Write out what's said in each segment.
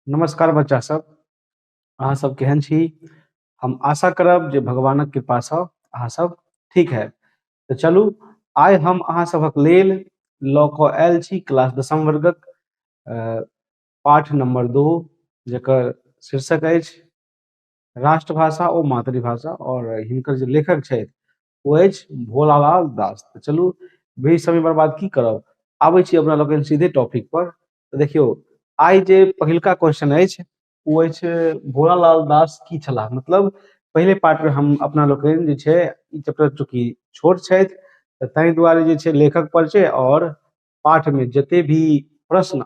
नमस्कार बच्चा सब अहाँ सब केहन छी हम आशा करब जे भगवानक कृपा सँ अहाँ सब ठीक है तऽ चलू आइ हम अहाँ सभक लेल लऽ कऽ आयल छी क्लास दसम वर्गक अ, पाठ नंबर दो जकर शीर्षक अछि राष्ट्रभाषा ओ मातृभाषा और हिनकर जे लेखक छथि ओ अछि भोलालाल दास तऽ चलू बेसी समय बर्बाद की करब आबै छी अपना लोकनि सीधे टॉपिक पर तऽ देखियौ आइ जे पहिलका क्वेश्चन अछि ओ अछि भोलालाल दास की छलाह मतलब पहिले पार्टमे हम अपना लोकनि जे छै ई चैप्टर चूँकि छोट छथि तऽ ताहि दुआरे जे छै लेखक पर छै आओर पाठमे जते भी प्रश्न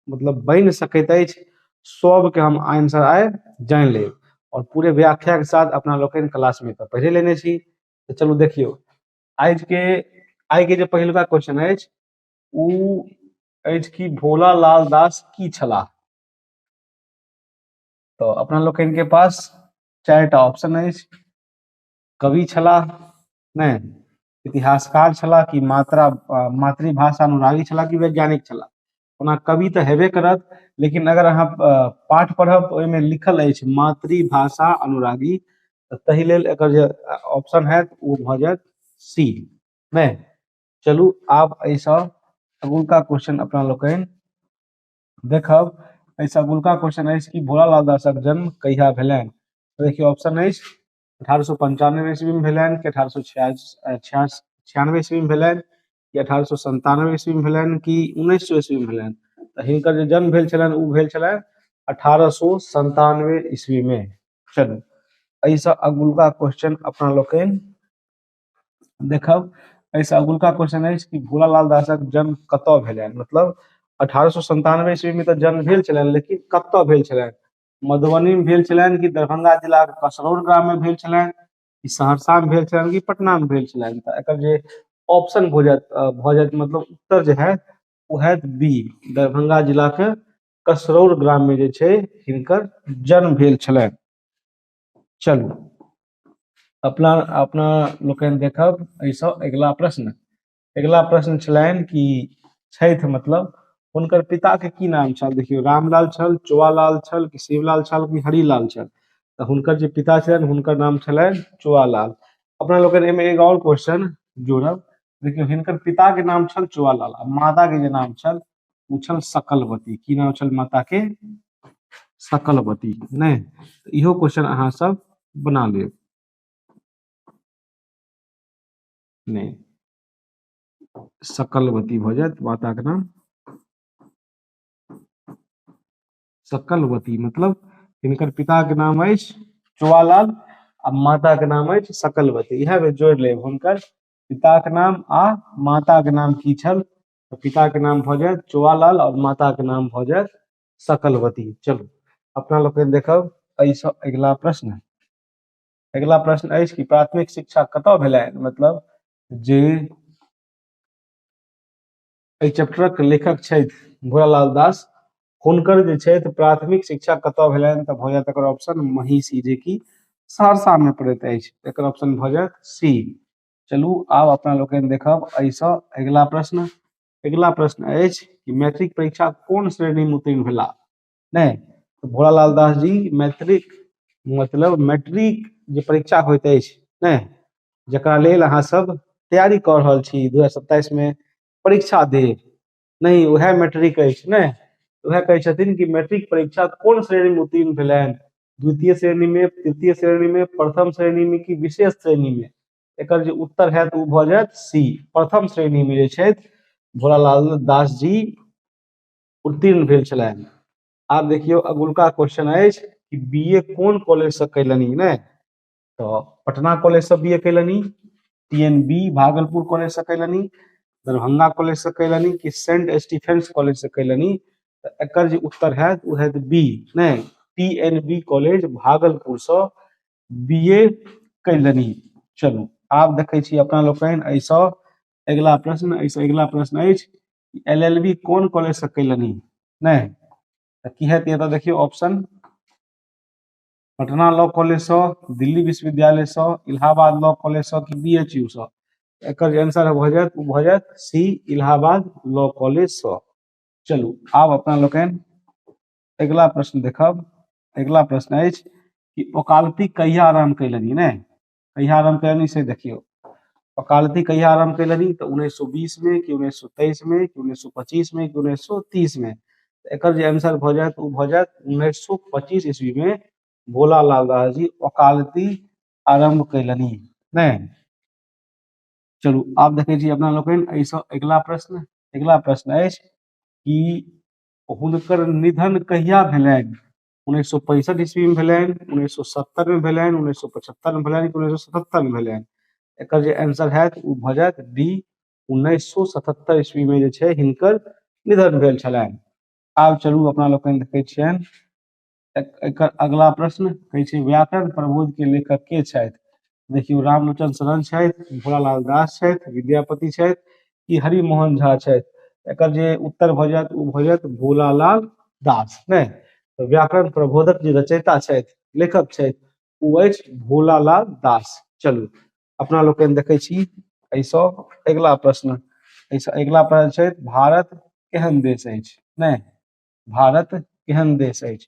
मतलब बन सकैत अछि सबके हम आंसर आइ जान ले और पूरे व्याख्या के साथ अपना लोग क्लास में तो पढ़े लेने छी तो चलो देखियो आज के आज के जो पहलका क्वेश्चन है उ आज की भोला लाल दास की छला तो अपना लोग के पास चार टा ऑप्शन है कवि छला नहि इतिहासकार छलाह कि मात्रा मातृभाषा अनुरागी छलाह कि वैज्ञानिक छलाह ओना कवि तऽ हेबे करत लेकिन अगर अहाँ पाठ पढ़ब ओहिमे लिखल अछि मातृभाषा अनुरागी तऽ ताहि लेल एकर जे ऑप्शन हैत ओ भऽ जायत सी नहि चलू आब एहिसँ अगुलका क्वेश्चन अपना लोकनि देखब एहिसँ अगुलका क्वेश्चन अछि कि भोलालाल दासक जन्म कहिया भेलनि देखियौ ऑप्शन अछि अठारह सए पंचानवे ईस्वी में भेलैन कि अठारह सए छियानवे ईस्वी में भेलैन कि अठारह सए संतानवे ईस्वी में भेलैन कि उन्नैस सए ईस्वी में भेलैन तऽ हिनकर जे जन्म भेल छलैन उ भेल छलैन अठारह सए संतानवे ईस्वी में चलू एहि सऽ अगुलका क्वेश्चन अपना लोकनि देखब एहि सऽ अगुलका क्वेश्चन अछि कि भोलालाल दासक जन्म कतऽ भेलैन मतलब अठारह सए संतानवे ईस्वी में तऽ जन्म भेल छलैन लेकिन कतऽ भेल छलैन मधुबनी में भेल छलैन कि दरभंगा जिला के कसरौर ग्राम में भेल छलैन कि सहरसा में भेल छलैन कि पटना में भेल छलैन त एकर जे ऑप्शन भ जायत अ, भ जायत मतलब उत्तर जे है ओ हैत बी दरभंगा जिला के कसरौर ग्राम में जे छै हिनकर जन्म भेल छलैन चलू अपना अपना लोकनि देखब एहिसँ अगिला प्रश्न अगिला प्रश्न छलनि कि छथि मतलब हुनकर पिताके की नाम छल देखियौ रामलाल छल चोआलाल छल कि शिवलाल छल कि हरिलाल छल तऽ हुनकर जे पिता छलनि हुनकर नाम छलनि चोआलाल अपना लोकनि एहिमे एगो आओर क्वेश्चन जोड़ब देखियौ हिनकर पिताके नाम छल चोआलाल आ माताके जे नाम छल ओ छल सकलवती की नाम छल माताके सकलवती नहि तऽ इहो क्वेश्चन अहाँ सब बना लेब नहि सकलवती भऽ जायत माताक नाम सकलवती मतलब हिनकर पिताक नाम अछि चुआलाल आ माताक नाम अछि सकलवती इएह बेर जोड़ि लेब हुनकर पिताक नाम आ माताक नाम की छल तऽ पिताक नाम भऽ जायत चुआलाल आओर माताक नाम भऽ जायत सकलवती चलू अपना लोकनि देखब एहिसँ अगिला प्रश्न अगिला प्रश्न अछि कि प्राथमिक शिक्षा कतय भेलै मतलब जे एहि चैप्टरक लेखक छथि भोलालाल दास हुनकर जे छथि प्राथमिक शिक्षा कतय भेलनि तऽ भऽ जायत एकर ऑप्शन महिषी जेकि सहरसामे पड़ैत अछि एकर ऑप्शन भऽ जायत सी चलू आब अपना लोकनि देखब एहिसँ अगिला प्रश्न अगिला प्रश्न अछि कि मैट्रिक परीक्षा कोन श्रेणीमे उत्तीर्ण भेला ने भोला लाल दास जी मैट्रिक मतलब मैट्रिक जे परीक्षा होइत अछि ने जकरा लेल अहाँ सब तैयारी कऽ रहल छी 2027 में परीक्षा देब नहि उएह मैट्रिक अछि ने उएह कहै छथिन कि मैट्रिक परीक्षा कोन श्रेणी में उत्तीर्ण भेलनि द्वितीय श्रेणी में तृतीय श्रेणी में प्रथम श्रेणी में कि विशेष श्रेणी में एकर जे उत्तर हैत ओ भऽ जायत सी प्रथम श्रेणी में जे छथि भोलालाल दास जी उत्तीर्ण भेल छलाह आब देखियौ अगुलका क्वेश्चन अछि कि बीए कोन कॉलेज से कैलनि ने तो पटना कॉलेज से बीए कैलनि टीएनबी भागलपुर कॉलेज से कैलनि दरभंगा कॉलेज से कैलनि कि सेंट स्टीफेंस कॉलेज से कैलनि तो एकर जे उत्तर है वो है बी ने टीएनबी कॉलेज भागलपुर से बीए कैलनि चलू आब देखै छी अपना लोकनि एहिसँ अगिला प्रश्न एहिसँ अगिला प्रश्न अछि एल एल बी कोन कॉलेज से कैलनि नहि तऽ की हेतै एतऽ देखियौ ऑप्शन पटना लॉ कॉलेज से दिल्ली विश्वविद्यालय से इलाहाबाद लॉ कॉलेज से कि बी एच यू से एकर जे आंसर भऽ जायत ओ भऽ जायत सी इलाहाबाद लॉ कॉलेज से चलू आब अपना लोकनि अगिला प्रश्न देखब अगिला प्रश्न अछि कि ओकालती कहिया आरम्भ कैलनि नहि कहिया आरम्भ कयलनि से देखियौ वकालती कहिया आरम्भ कयलनि तऽ उन्नैस सए बीस मे कि उन्नैस सए तेइस मे कि उन्नैस सए पच्चीस मे कि उन्नैस सए तीस मे एकर जे आंसर भऽ जायत ओ भऽ जायत उन्नैस सए पच्चीस ईस्वी मे भोला लाल दास जी वकालती आरम्भ कयलनि नहि चलू आब देखै छी अपना लोकनि एहिसँ अगिला प्रश्न अगिला प्रश्न अछि कि हुनकर निधन कहिया भेलनि उन्नैस सए पैंसठि ईस्वीमे भेलनि उन्नैस सए सत्तरिमे भेलनि उन्नैस सए पचहत्तरिमे भेलनि कि उन्नैस सए सतहत्तरिमे भेलनि एकर जे आंसर हैत ओ भऽ जायत डी उन्नैस सए सतहत्तरि ईस्वीमे जे छै हिनकर निधन भेल छलनि आब चलू अपना लोकनि देखै छियनि एक- एकर अगला प्रश्न कहै छै व्याकरण प्रबोध के लेखक के छथि देखियौ रामलोचन शरण छथि भोलालाल दास छथि विद्यापति छथि कि हरिमोहन झा छथि एकर जे उत्तर भऽ जायत ओ भऽ जायत भोलालाल दास नहि तऽ व्याकरण प्रबोधक जे रचयिता छथि लेखक छथि ओ अछि भोलालाल दास चलू अपना लोकनि देखै छी एहिसँ अगिला प्रश्न एहिसँ अगिला प्रश्न छथि भारत केहन देश अछि नहि भारत केहन देश अछि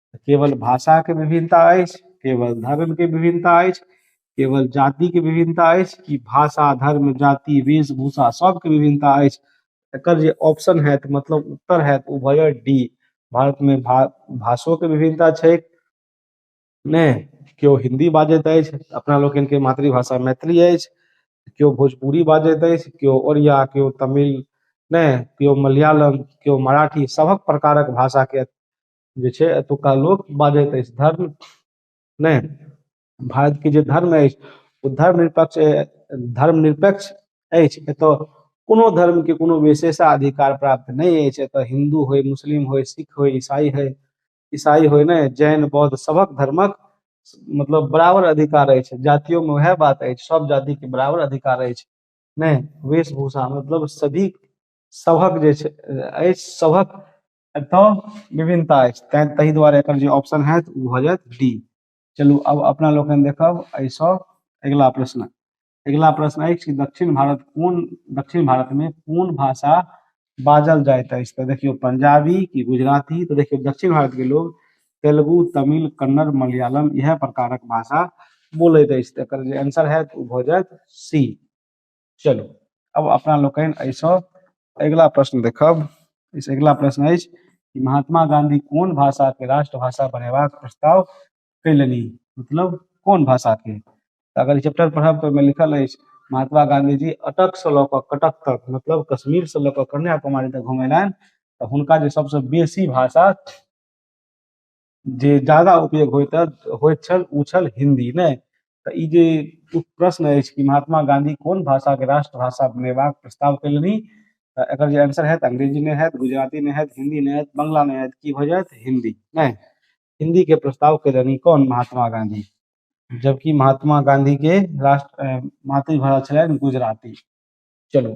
केवल भाषा के विभिन्नता अछि केवल धर्म के विभिन्नता अछि केवल जाति के विभिन्नता अछि कि भाषा धर्म जाति वेशभूषा सबके विभिन्नता अछि एकर जे ऑप्शन हैत मतलब उत्तर हैत ओ भऽ जायत डी भारत मे भा भाषो के विभिन्नता छै ने केओ हिन्दी बाजैत अछि अपना लोकनि के मातृभाषा मैथिली अछि केओ भोजपुरी बाजैत अछि केओ ओरिया केओ तमिल ने केओ मलयालम केओ मराठी सभक प्रकारक भाषा के जे छै एतुका लोक बाजैत अछि धर्म नहि भारतके जे धर्म अछि ओ धर्म निरपेक्ष धर्म निरपेक्ष अछि एतय कोनो धर्मके कोनो विशेषाधिकार प्राप्त नहि अछि एतय हिन्दू होय मुस्लिम होय सिख होय ईसाई होय ईसाई होय ने जैन बौद्ध सभक धर्मक मतलब बराबर अधिकार अछि जातियोमे उएह बात अछि सभ जातिके बराबर अधिकार अछि नहि वेशभूषा मतलब सभी सभक जे छै अछि सभक एतय विभिन्नता अछि तैं ताहि दुआरे एकर जे ऑप्शन हैत ओ भऽ जायत डी चलू अब अपना लोकनि देखब एहिसँ अगिला प्रश्न अगिला प्रश्न अछि दक्षिण भारत कोन दक्षिण भारतमे कोन भाषा बाजल जाइत अछि तऽ देखियौ पंजाबी कि गुजराती तऽ देखियौ दक्षिण भारतके लोग तेलुगु तमिल कन्नड़ मलयालम इएह प्रकारक भाषा बोलैत अछि तऽ एकर जे आंसर हैत ओ भऽ जायत सी चलू अब अपना लोकनि एहिसँ अगिला प्रश्न देखब एहिसँ अगिला प्रश्न अछि कि महात्मा गांधी कोन भाषा के राष्ट्रभाषा बनेबाक प्रस्ताव कयलनि मतलब कोन भाषा के तऽ अगर चैप्टर पढ़ब तऽ ओहिमे लिखल अछि महात्मा गांधी जी अटक से लऽ कऽ कटक तक मतलब कश्मीर से लऽ कऽ कन्याकुमारी तक घुमेलनि तऽ हुनका जे सबसँ बेसी भाषा जे ज्यादा उपयोग होइत होइत छल ओ छल हिन्दी नहि तऽ ई जे प्रश्न अछि कि महात्मा गाँधी कोन भाषाके राष्ट्रभाषा बनेबाक प्रस्ताव कयलनि तऽ एकर जे आंसर होयत अंग्रेजी नहि होयत गुजराती नहि होयत हिन्दी नहि होयत बंगला नहि होयत की भऽ जायत हिन्दी नहि हिन्दीके प्रस्ताव कयलनि कोन महात्मा गाँधी जबकि महात्मा गाँधीके राष्ट्र मातृभाषा छलनि गुजराती चलू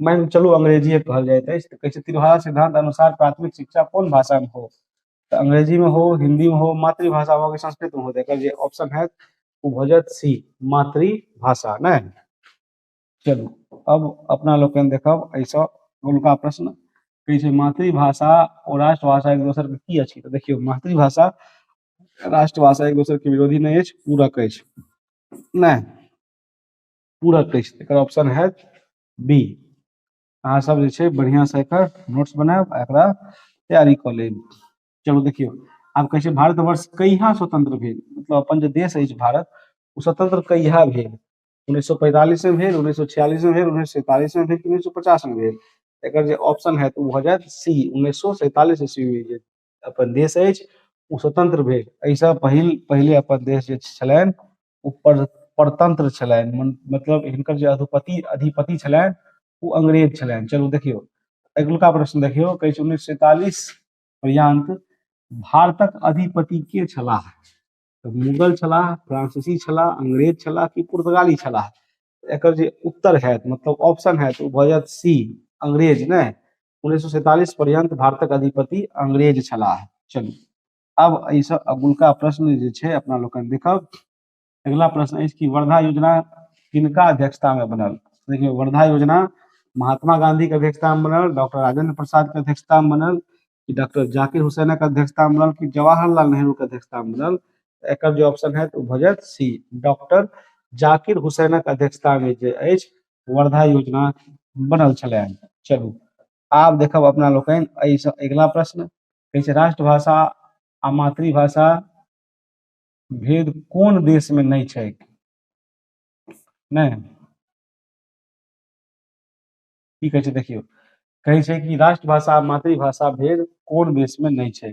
मानि चलू अंग्रेजिए कहल जाइत अछि तऽ कहै छै तिरभाषा सिद्धांत अनुसार प्राथमिक शिक्षा कोन भाषामे हो तऽ अंग्रेजीमे हो हिन्दीमे हो मातृभाषा हो कि संस्कृतमे हो तऽ एकर जे ऑप्शन हैत ओ भऽ जायत सी मातृभाषा नहि चलू अब अपना लोकनि देखब एहिसँ हुनका प्रश्न कहै छै मातृभाषा ओ राष्ट्रभाषा एक दोसर के की अछि तऽ देखियौ मातृभाषा राष्ट्रभाषा एक दोसर के विरोधी नहि अछि पूरक अछि नहि पूरा कहै छै एकर ऑप्शन है बी अहाँ सब जे छै बढ़िया से एकर नोट्स बनायब आ एकरा तैयारी कऽ लेब चलू देखियौ आब कहै छै भारतवर्ष कहिया स्वतंत्र भेल मतलब अपन जे देश अछि भारत ओ स्वतंत्र कहिया भेल उन्नैस सौ पैंतालिस में भेल उन्नैस सौ छियालिस में भेल उन्नैस सौ सैंतालिस में भेल उन्नैस सौ पचास में भेल एकर जे ऑप्शन है तो भऽ जायत सी उन्नैस सौ सैंतालिस ईस्वी में जे अपन देश अछि ओ स्वतंत्र भेल एहि सॅं पहिल पहिले अपन देश जे छलनि ओ पर परतंत्र छलनि मतलब हिनकर जे अधिपति अधिपति छलनि ओ अंग्रेज छलनि चलू देखियौ अगिलुका प्रश्न देखियौ कहै छै उन्नैस सए सैंतालिस पर्यंत भारतक अधिपति के छलाह तऽ मुगल छलाह फ्रांसीसी छलाह अंग्रेज छलाह कि पुर्तगाली छलाह एकर जे उत्तर होयत मतलब ऑप्शन होयत ओ भऽ जायत सी अंग्रेज नहि 1947 पर्यंत भारतक अधिपति अंग्रेज छलाह चलू अब एहिसँ अगुलका प्रश्न जे छै अपना लोकनि देखब अगिला प्रश्न अछि कि वर्धा योजना किनका अध्यक्षता में बनल देखिए वर्धा योजना महात्मा गांधी के अध्यक्षता में बनल डॉक्टर राजेंद्र प्रसाद के अध्यक्षता में बनल कि डॉक्टर जाकिर हुसैन के अध्यक्षता में बनल कि जवाहरलाल नेहरू के अध्यक्षता में बनल एक जो ऑप्शन है तो भजत सी डॉक्टर जाकिर हुसैन के अध्यक्षता में जो वर्धा योजना बनल छलै चलू आब देखब अपना लोकनि एहिसँ अगिला प्रश्न कहै छै राष्ट्रभाषा आ मातृभाषा भेद कोन देशमे नहि छै नहि की कहै छै देखियौ कहै छै कि राष्ट्रभाषा आ मातृभाषा भेद कोन देशमे नहि छै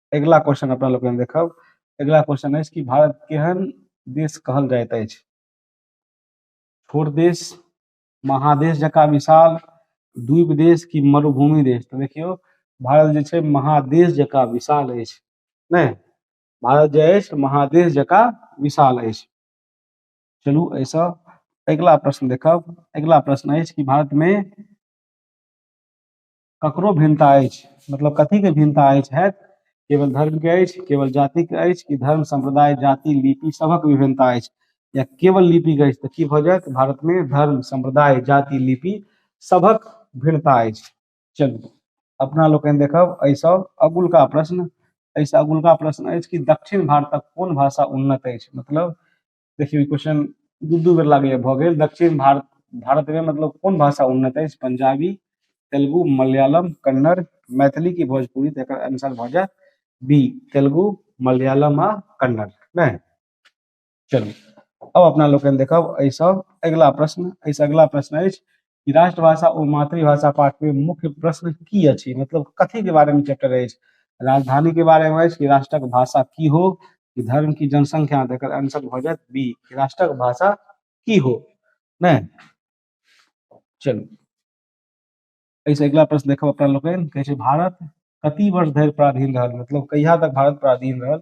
अगिला क्वेश्चन अपना लोग हम देखब अगिला क्वेश्चन अछि कि भारत केहन देश कहल जाइत अछि छोट देश महादेश जकाँ विशाल द्वीप देश कि मरुभूमि देश तऽ देखियौ भारत जे छै महादेश जकाँ विशाल अछि नहि भारत जे अछि महादेश जकाँ विशाल अछि चलू एहिसँ अगिला प्रश्न देखब अगिला प्रश्न अछि कि भारतमे ककरो भिन्नता अछि मतलब कथीके भिन्नता अछि हैत केवल धर्मके अछि केवल जातिके अछि कि धर्म सम्प्रदाय जाति लिपि सभक विभिन्नता अछि या केवल लिपिके अछि तऽ की भऽ जायत भारतमे धर्म सम्प्रदाय जाति लिपि सभक भिन्नता अछि चलू अपना लोकनि देखब एहिसँ अगुलका प्रश्न एहिसँ अगुलका प्रश्न अछि कि दक्षिण भारतक कोन भाषा उन्नत अछि मतलब देखियौ ई क्वेश्चन दू दू बेर लागैए भऽ गेल दक्षिण भारत भारतमे मतलब कोन भाषा उन्नत अछि पंजाबी तेलुगु मलयालम कन्नड़ मैथिली की भोजपुरी तऽ एकर आंसर भऽ जायत बी तेलुगु मलयालम आ कन्नड़ नहि चलू अब अपना लोकनि देखब एहिसँ अगिला प्रश्न एहिसँ अगिला प्रश्न अछि कि राष्ट्रभाषा ओ मातृभाषा पाठमे मुख्य प्रश्न की अछि मतलब कथीके बारेमे चैप्टर अछि राजधानीके बारेमे अछि कि राष्ट्रक भाषा की हो कि धर्म की जनसंख्या तकर आंसर भऽ जायत बी राष्ट्रक भाषा की हो नहि चलू एहिसँ अगिला प्रश्न देखब अपना लोकनि कहै छै भारत कति वर्ष धरि पराधीन रहल मतलब कहिया तक भारत पराधीन रहल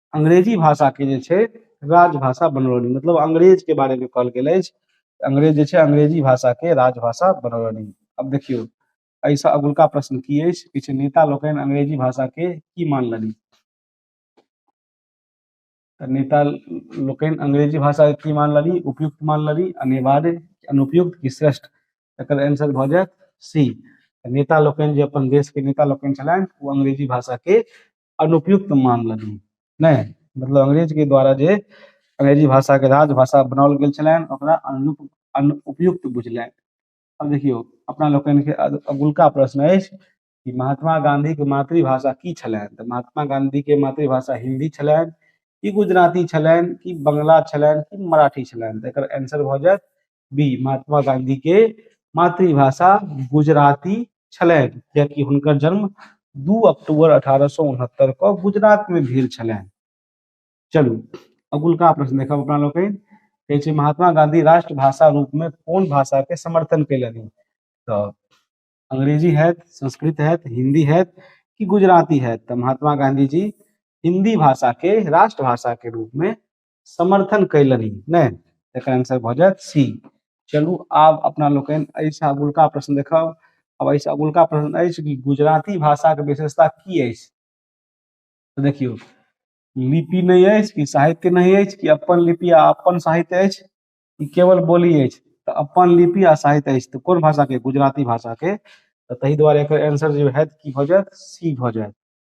अंग्रेजी भाषा के जे छै राजभाषा बनौलनि मतलब अंग्रेज के बारे में कहल गेल अछि अंग्रेज जे छै अंग्रेजी भाषा के राजभाषा बनौलनि अब देखियौ एहिसँ अगुलका प्रश्न की अछि किछु नेता लोकनि अंग्रेजी भाषा के की मानलनि तऽ नेता लोकनि अंग्रेजी भाषा के की मानलनि उपयुक्त मानलनि अनिवार्य कि अनुपयुक्त कि श्रेष्ठ एकर आंसर भऽ जायत सी नेता लोकनि जे अपन देश के नेता लोकनि छलनि ओ अंग्रेजी भाषा के अनुपयुक्त मानलनि नहि मतलब अंग्रेज के द्वारा जे अंग्रेजी भाषा के राजभाषा बनाओल गेल छलनि ओकरा अनुप अनुपयुक्त बुझलनि अब देखियौ अपना लोकनि के अग- अगुलका प्रश्न अछि कि महात्मा गांधी के मातृभाषा की छलनि तऽ महात्मा गांधी के मातृभाषा हिंदी छलनि कि गुजराती छलनि कि बंगला छलनि कि मराठी छलनि तऽ एकर आंसर भऽ जायत बी महात्मा गांधी के मातृभाषा गुजराती छलनि कियाकि हुनकर जन्म दू अक्टूबर अठारह सए उनहत्तर के गुजरात में भेल छलनि चलू अगुलका प्रश्न देखब अपना लोग कहै छै महात्मा गांधी राष्ट्रभाषा रूप में कोन भाषा के समर्थन कयलनि तऽ अंग्रेजी है संस्कृत है हिंदी है कि गुजराती है तऽ महात्मा गांधी जी हिंदी भाषा के राष्ट्रभाषा के रूप में समर्थन कैलनि नहि एकर आंसर भऽ जायत सी चलू आब अपना लोकनि एहिसँ अगुलका प्रश्न देखब आब एहिसँ अगुलका प्रश्न अछि कि गुजराती भाषाके विशेषता की अछि तऽ देखियौ लिपि नहि अछि कि साहित्य नहि अछि कि अपन लिपि आ अपन साहित्य अछि कि केवल बोली अछि तऽ अपन लिपि आ साहित्य अछि तऽ कोन भाषाके गुजराती भाषाके तऽ ताहि दुआरे एकर आंसर जे होयत की भऽ जायत सी भऽ जायत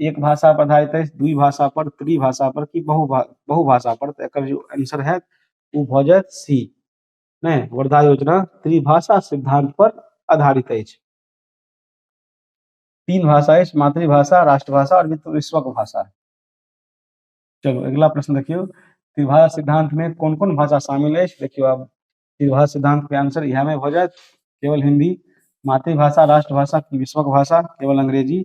एक भाषा पर आधारित अछि द्वि भाषा पर त्रि भाषा पर कि बहु भा बहु भाषा पर तऽ एकर जे आंसर होयत ओ भऽ जायत सी नहि वर्धा योजना त्रिभाषा सिद्धांत पर आधारित अछि तीन भाषा अछि मातृभाषा राष्ट्रभाषा और मित्र विश्वक भाषा चलो अगला प्रश्न देखियो त्रिभाषा सिद्धांत में कौन कौन भाषा शामिल है देखियो आब त्रिभाषा सिद्धांत के आंसर इहा में हो जाए केवल हिंदी मातृभाषा राष्ट्रभाषा की विश्वक भाषा केवल अंग्रेजी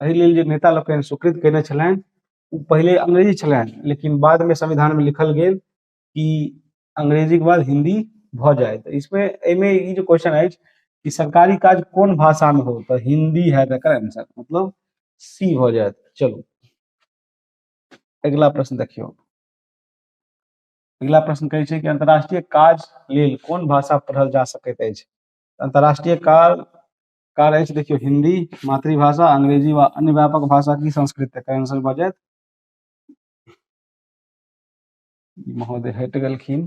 एहि लेल जे नेता लोकनि स्वीकृत कयने छलनि ओ पहिले अंग्रेजी छलनि लेकिन बादमे संविधानमे लिखल गेल कि अंग्रेजीके बाद हिंदी भऽ जाय तऽ इसमे एहिमे ई जे क्वेश्चन अछि कि सरकारी काज कोन भाषामे हो तऽ हिंदी है एकर आंसर मतलब सी भऽ जायत चलू अगिला प्रश्न देखियौ अगिला प्रश्न कहै छै कि अंतर्राष्ट्रीय काज लेल कोन भाषा पढ़ल जा सकैत अछि अंतर्राष्ट्रीय काज कार अछि देखियौ हिन्दी मातृभाषा अंग्रेजी वा अन्य व्यापक भाषा की संस्कृत एकर आंसर भऽ जायत महोदय हटि गेलखिन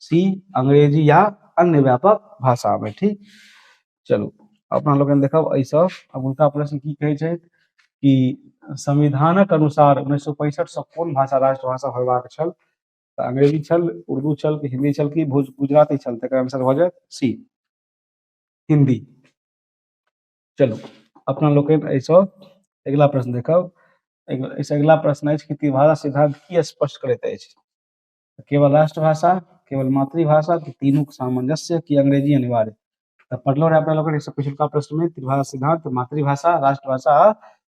सी अंग्रेजी या अन्य व्यापक भाषा में ठीक चलू अपना लोग देखब एहि सब अब उनका प्रश्न की कहे छै कि संविधानक अनुसार उन्नैस सौ पैंसठ से कोन भाषा राष्ट्रभाषा होयबाक छल तऽ अंग्रेजी छल उर्दू छल कि हिंदी छल कि भोज गुजराती छल तकर आंसर भऽ जायत सी हिंदी चलू अपना लोकनि एहिसँ अगिला प्रश्न देखब एहिसँ अगिला प्रश्न अछि कि त्रिभाषा सिद्धांत की स्पष्ट करैत अछि तऽ केवल राष्ट्रभाषा केवल मातृभाषा कि तीनूके सामंजस्य कि अंग्रेजी अनिवार्य तऽ पढ़लहुँ रहे अपना लोग एहिसँ पिछुलका प्रश्नमे त्रिभाषा सिद्धांत मातृभाषा राष्ट्रभाषा आ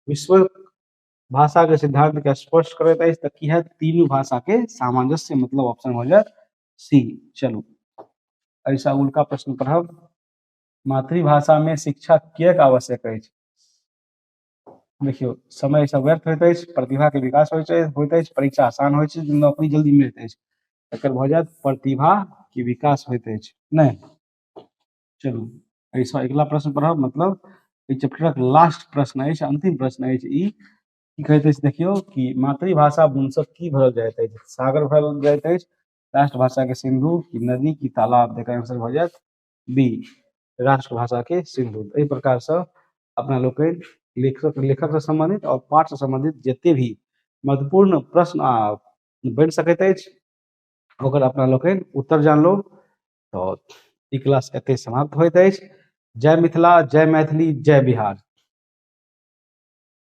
विश्व भाषाके सिद्धांतके स्पष्ट करैत अछि तऽ की है तीनू भाषाके सामंजस्य मतलब ऑप्शन हो जायत सी चलू एहिसँ उल्का प्रश्न पढ़ब मातृभाषामे शिक्षा किएक आवश्यक अछि देखियौ समय सब व्यर्थ होइत अछि प्रतिभा के विकास होइत अछि होइत अछि परीक्षा आसान होइत अछि नौकरी जल्दी मिलैत अछि एकर भऽ जायत प्रतिभा के विकास होइत अछि नहि चलू एहिसँ अगिला प्रश्न पढ़ब मतलब एहि चैप्टरक लास्ट प्रश्न अछि अंतिम प्रश्न अछि ई की कहैत अछि देखियौ कि मातृभाषा बुनसँ की भरल जाइत अछि सागर भरल जाइत अछि राष्ट्रभाषा के सिंधु की नदी की तालाब एकर आंसर भऽ जायत बी राष्ट्रभाषा के सिंदूर एहि प्रकार सँ अपना लोकनि लेखक लेखक सँ सम्बन्धित आओर पाठ सँ सम्बन्धित जते भी महत्वपूर्ण प्रश्न आ बनि सकैत अछि ओकर अपना लोकनि उत्तर जानलहुॅं तऽ ई क्लास एतै समाप्त होइत अछि जय मिथिला जय मैथिली जय बिहार